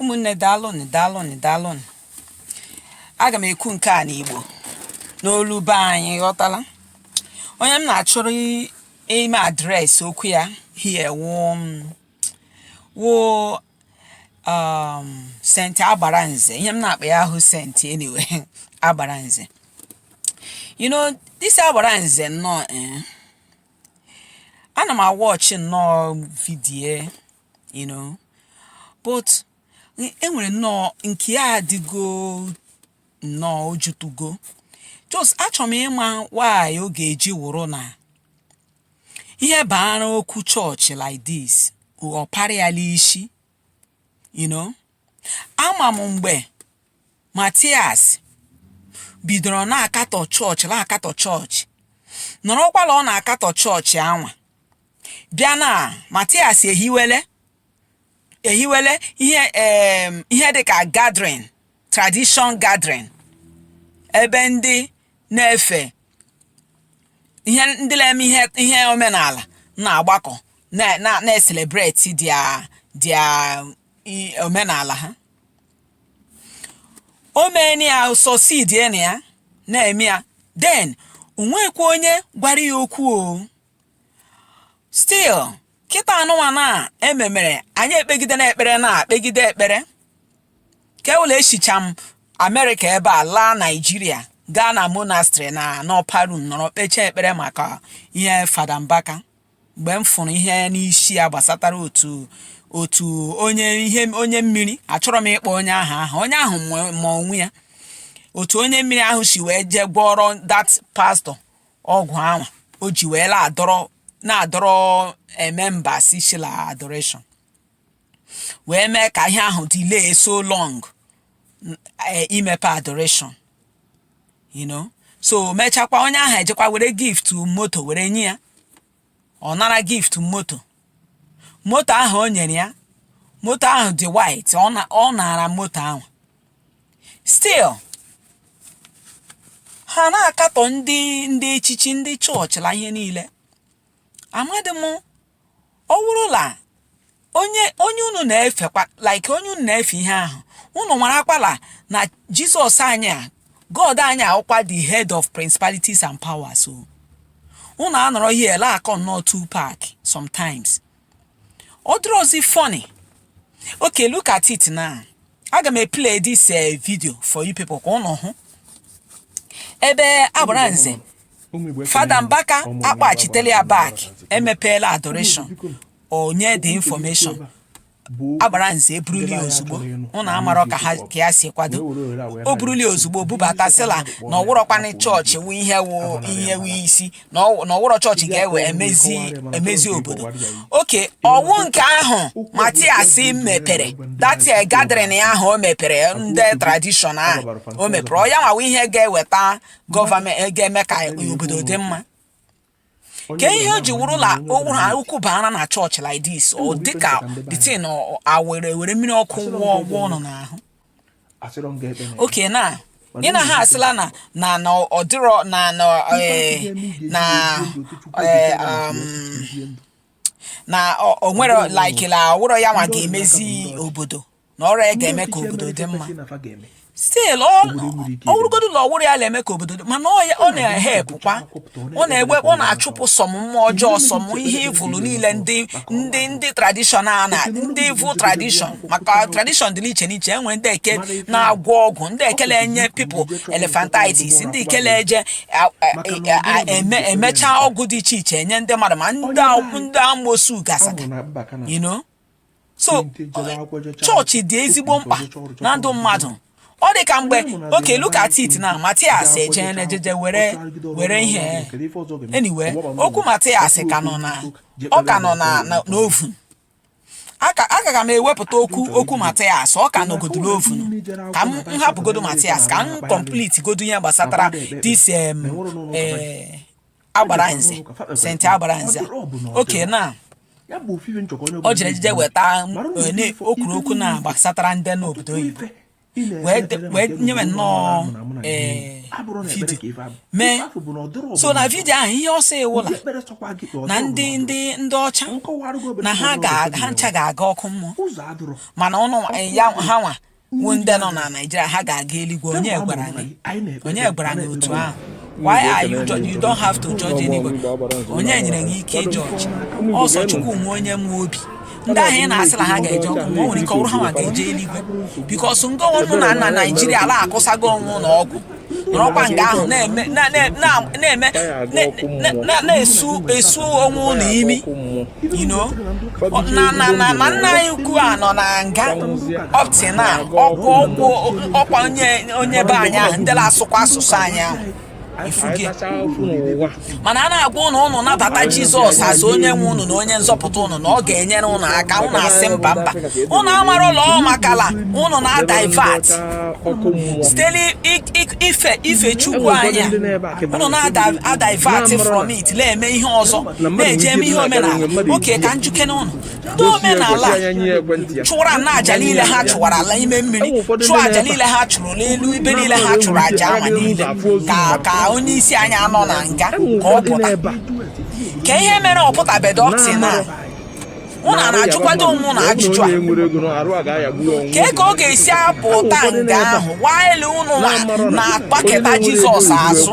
ụmụnne daalụnụ daalụnụ daalụnụ aga m ekwu nke a n'igbo n'olu be anyị ghọtala onye m na-achọrọ i- ime address okwu ya here wụ m wụ um, saint agbara nze ihe m na-akpọ ya ahụ saint anyway agbara nze you know this agbara nze nnọọ eh, ana m a-watch nnọọ video you know but enwere nnọọ nke ya adịgo nnọọ ojutugo just achọrọ m ịma why ọ ga-eji wụrụ na ihe baara okwu chọọchị like this ọ parịala isi you know ama m mgbe Matias bidoro na-akatọ chọọchị na-akatọ chọọchị nọrọkwala ọ na-akatọ chọọchị anwa bịa na Matias ehiwele ehiwele ihe em, ihe dịka gathering tradition gathering ebe ndị na-efe ihe ndị na-eme ihe ihe omenala na-agbakọ na- na- na-ecelebrate their their i- omenala ha o meeni ya succeed na ya na-eme ya then o nwekwa onye gwara ya okwu o still kịta anụnwa na ememere anyị ekpegide na ekpere na kpegide ekpere ka ewela esicha m amerịka ebe a laa naijiria gaa na monastery na n'upper room nọrọ kpechaa ekpere maka ihe fada mbaka mgbe m fụrụ ihe n'isi ya gbasatara otu otu onye ihe onye mmiri achọrọ m ịkpọ onye ahụ aha onye ahụ ma onwe ya otu onye mmiri ahụ si wee jee gwọrọ that pastor ọgwụ anwa o ji wee na-adọrọ na-adọrọ members si la adoration wee mee ka ihe ahụ delay so long n- eh, imepe adoration you know so mechakwa onye ahụ ejekwa were gift moto were nye ya ọ nara gift moto moto ahụ o nyere ya moto ahụ dị white ọ na- ọ nara moto ahụ still ha na-akatọ ndị ndị echichi ndị chọọchị la ihe niile amadị m ọ wụrụ na onye onye unu na-efekwa like onye unu na-efe ihe ahụ unu marakwala na jizọs anyị a god anyị awụkwa the head of principalities and powers o unu anọrọ here la-akọ nnọọ two pack sometimes ọ dịrọzi funny okay look at it now aga m eplay this eh, video for you people ka ụnụ hụ ebe agbara nze fada mbaka akpachitela ya back emepeela adoration o nye the infọmeshọn agbara nze eburuli ozugbo ụnụ amarọ ka ha ka ya si kwado o buruli ozugbo bubata sịla na ọwụrọkwanị chọọchị wu ihe wu ihe wu isi na ọ- na ọwụrọ chọọchị ga-ewe emezi emezi obodo okay ọwụ nke ahụ matias mepere that gathering ahụ o mepere ndị tradishọn ahụ o mepere ọ ya nwa wụ ihe ga-eweta gọọmenti ga-eme ka obodo dị mma kee ihe o ji wụrụ la okwu ha okwu baara na chọọchị like this ọ dịka the thing e were were mmiri ọkụ wụọ ụnụ n'ahụ okay na ị na ha asịla na na na ọ dịrọ na na eh, na eh, um, na ọ- o nwere like na ọwụrọ ya nwa ga-emezi obodo na ọrọ ya ga-eme ka obodo dị mma still ọwụrụgodu na ọwụrọ ya na-eme ka obodo dị mana ọ ya- ọ na-ehepụkwa ọ na-egbe ọ na-achụpụ some mmụọ ọjọọ some ihe evil niile ndị ndị ndị tradishọn a na ndị evil tradishọn maka tradishọn dị n'iche n'iche e nwere ndị nke na-agwọ ọgwụ ndị nke na-enye people elephantitis ndị nke na-eje a- a- a- a- eme emecha ọgwụ dị iche iche enye ndị mmadụ ma ndị a- ndị amosu gasịga you know so chọọchị dị ezigbo mkpa na ndụ mmadụ ọ dị ka mgbe okay look at it na matias eje nejeje were were ihe anyway okwu matias ka nọ na ọ ka nọ na na- n'oven aka ga m ewepụta okwu okwu matias ọ ka nọgodu n'oven ka m m hapụgodu matias ka m complete godu ihe gbasatara this em, eh, agbara nze saint agbara nze okay na o jere jije weta m, eh, na- o kwuru okwu na gbasatara ndị n'obodo oyibo wee nyewe nnọọ ee vidio mee so na vidio ahụ ihe ọ sị wụ la na ndị ndị ndị ọcha na ha ha ncha ga-aga ọkụ mmụọ mana ụnụ ya ha nwa wu ndị nọ na naijiria ha ga-aga eluigwe onye gwara gị onye gwara gị otu ahụ why are you judge you don't have to judge anybody onye nyere gị ike ịjọji ọ sọ chukwu nwe onye nwe obi ndị ahụ ị na-asị na ha ga-eje ọkụ ma o nwere ike ọwụrụ ha nwa ga-eje eluigwe because nga ụnụ nọ na naijiria ala akụsago onwe ụnụ ọgwụ nọrọkwa nga ahụ na-eme na- na- na- na-eme na- na- na-esu esu onwe ụnụ imi you know Ọ- na na na na nna anyị ukwu a nọ na nga up till now ọkwa ọkwa ọkwa onye onye be anyị ahụ ndị na-asụkwa asụsụ anyị ahụ mana a na-agwa ụnụ ụnụ nabata jizọs as onye nwe ụnụ na onye nzọpụta ụnụ na ọ ga-enyere ụnụ aka ụnụ asị mba mba ụnụ amara la ọ makala ụnụ na-adivert site n'ife chukwu anya ụnụ na-adivert from it na-eme ihe ọzọ na-eje eme ihe omenala okay ka m jụkene ụnụ ndị omenala a chụwara na aja niile ha chụwara la ime mmiri chụọ aja niile ha chụrụ n'elu ebe niile ha chụrụ aja ama niile ka onye isi anyị a nọ na nga ka ọ pụta ka ihe mere ọ pụtabedo ọ sị na ụnụ na-ajụkwado onwe ụnụ ajụjụ a kee ka ọ ga-esi apụta nga ahụ while ụnụ na- na-agbaketa jizọs azụ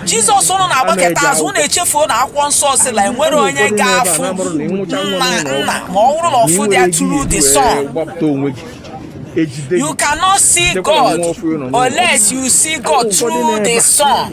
jizọs ụnụ na-agbaketa azụ ụnụ echefuo na akwụkwọ nsọ sị na enwere onye ga-afụ nna nna ma ọ bụrụ na ọ fụdị through the son you cannot see god unless you see god through the son